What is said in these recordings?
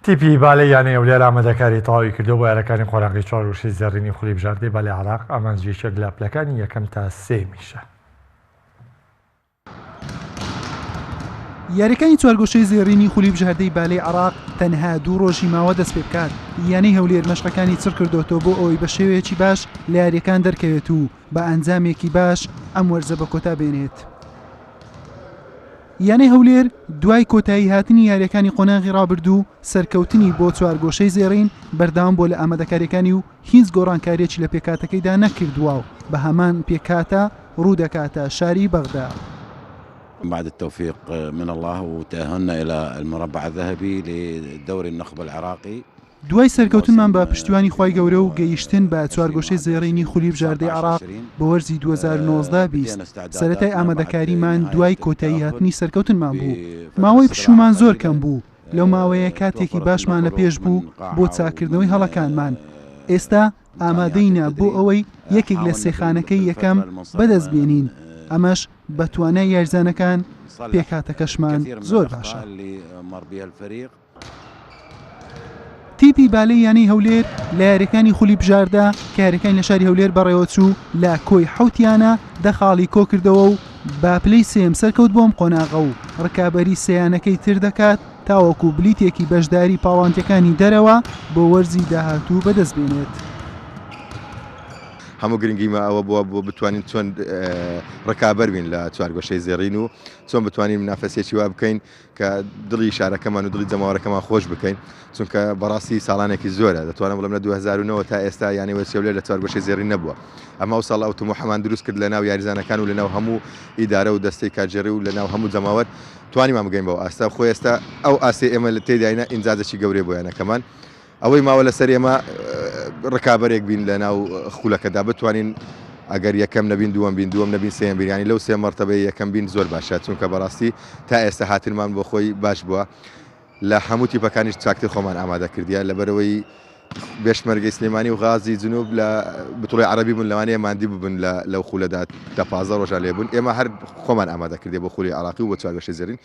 تیپی بالەی یانەی ئەولیال ئامادەکاری تەواوی کردووە بۆ یارەکانی قۆناغی چوار و شەش زێڕینی خولی بژاردەی بالەی عێراق، ئامانج یەکێک لە پلەکانی یەکەم تا سێیەمیشە. یاریەکانی چوارگۆشەی زێڕینی خولی بژاردەی بالەی عێراق تەنها دوو ڕۆژی ماوە دەست پێ بکات، یانەی هەولێر مەشقەکانی چڕ کردۆتەوە بۆ ئەوەی بە شێوەیەکی باش لە یاریەکان دەرکەوێت و بە ئەنجامێکی باش ئەم وەرزە بە کۆتا بێنێت. یانەی هەولێر دوای کۆتاییهاتنی یارییەکانی قۆناغی رابردوو، سەرکەوتنی بۆ چوارگۆشەی زێڕین بەردەوام بووە لە ئامادەکارییەکانی و هیچ گۆڕانکارییەکی لە پێکهاتەکەیدا نەکردووە و بە هەمان پێکهاتە روودەکاتە شاری بەغدا. بعد التوفيق من الله وتأهلنا إلى المربع الذهبي لدوري النخبة العراقي. دوای سەرکەوتنمان بە پشتیوانی خوای گەورە و گەیشتن بە چوارگۆشەی زێڕینی خولی بژاردەی عێراق بۆ وەرزی دوو هەزار و نۆزدە بیست، سەرەتای ئامادەکاریمان دوای کۆتایی هاتنی سەرکەوتنمان بوو. ماوەی پشوومان زۆر کەم بوو، لەو ماوەیە کاتێکی باشمان لە پێش بوو بۆ چاککردنەوەی هەڵەکانمان. ئێستا ئامادەینە بۆ ئەوەی یەکێک لە سێ خانەکەی یەکەم بەدەست بێنین، ئەمەش بە توانای یاریزانەکان، پێکهاتەکەشمان زۆر باشە. تیپی بالەی یانەی هەولێر لە یاریەکانی خولی بژاردە کە یاریەکانی لە شاری هەولێر بەڕێوەچوو لە کۆی حوتیانە دە خاڵی کۆکردەوە و با پلی سم سەرکەوت بۆم قۆناغە و ڕکابی سیانەکەی تر دەکات تاوەکو بلیتێکی بەشداری پاڵانتەکانی دەرەوە بۆ وەرزی داهاتوو بەدەست بێنێت. هەموو گرنگیمە ئەوە بووە بۆ بتوانین چۆن ڕکابەر بین لە چوارگۆشەی زێڕین و چۆن بتوانین منافەسێکی وا بکەین کە دڵی شارەکەمان و دڵی جەماوەرەکەمان خۆش بکەین چونکە بەڕاستی ساڵانێکی زۆرە دەتوانم بڵێم لە 2009 تا ئێستا یانی وەچێولێ لە چوارگۆشەی زێڕین نەبووە ئەمە ئەو ساڵ ئەو تموحەمان دروست کرد لە ناو یاریزانەکان و لەناو هەموو ئیدارە و دەستەی کارگێڕی و لەناو هەموو جەماوەر توانیمان بگەین بەو ئاستە خۆ ئێستا ئەو ئاستی ئێمە لە تێداینە ئینجازێکی گەورەی بۆ یانەکەمان ئەوەی ماوە لەسەر ئێمە ڕکابەرێک بین لە ناو خولەکەدا بتوانین ئەگەر یەکەم نەبین دووەم بین دووەم نەبین سێم بیرانی لەو سێ مەرتەبەی یەکەم بین زۆر باشە چونکە بەڕاستی تا ئێستا هاتنمان بۆ خۆی باش بووە لە هەموو تیپەکانیش چاکتر خۆمان ئامادە کردیە لەبەرەوەی بێشمەرگەی سلێمانی و غازی جنوب لە بتڵی عربی بوون لەوانەیە مادی ببن لە لەو خولەدا دە پازە ڕۆژان لێبوون ئێمە هەر خۆمان ئامادە کردێ بۆ خولی عراقی و بۆ چوارگەشە زێرین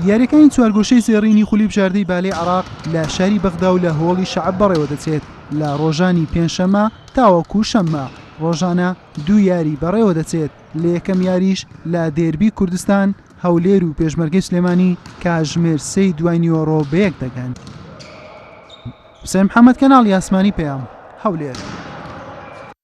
یاریەکانی چوارگۆشەی زێڕینی خولی بژاردەی بالەی عراق لە شاری بەغدا و لە هۆڵی شعب بەڕێوە دەچێت لە ڕۆژانی پێنجشەممە تاوەکو شەممە ڕۆژانە دوو یاری بەڕێوە دەچێت لە یەکەم یاریش لە دێربی کوردستان هەولێر و پێشمەرگەی سلێمانی کاژمێر سەی دوای نیوەڕۆ بەیەک دەگەن حسێن محەممەد کەناڵی ئاسمانی پێیان هەولێر